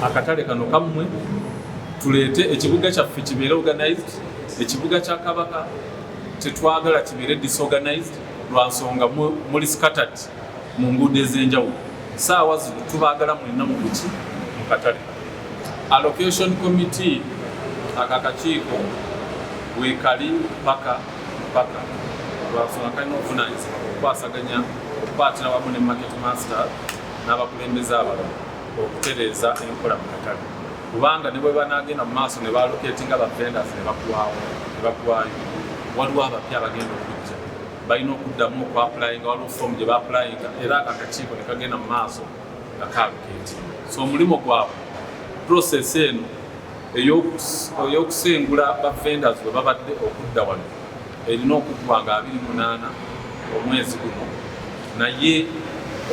akatale kano kammwe tuleete ekibuga kyaffe kibeere organized ekibuga kya kabaka tetwagala kibeere disorganized lwa nsonga muli scattered mu nguudo ez'enjawulo saawa zino tubaagala mwenna mu buki mu katale allocation committee aka kakiiko weekali paka Mpaka lwafuna kalina obuvunaanyizibwa okukwasaganya okukwatira wamu ne market master n'abakulembeze abalala okutereeza enkola mu katale kubanga ne bwe banaagenda mu maaso ne baloketinga bavendasi ne bakuwawo ne bakuwayo waliwo abapya abagenda okujja balina okuddamu okwapulayinga waliwo foomu gye bapulayinga era ako akakiiko ne kagenda mu maaso nga kaaluketinga so omulimu gwabwe process eno ey'okusengula ba vendors bwe babadde okudda wano erina okuggwa nga 28 omwezi guno naye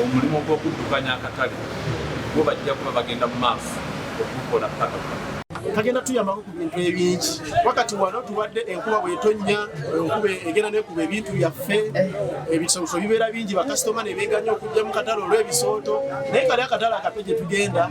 omulimu gw'okuddukanya akatale gwo bajja kuba bagenda mu maaso okukola paka kagenda tuyambako ku bintu ebingi wakati wano tubadde enkuba bwetonnya enkuba egenda nekuba ebintu byaffe ebisooso bibeera bingi bakasitoma nebeganya okujja mu katale olw'ebisooto naye kali akatale akato gye tugenda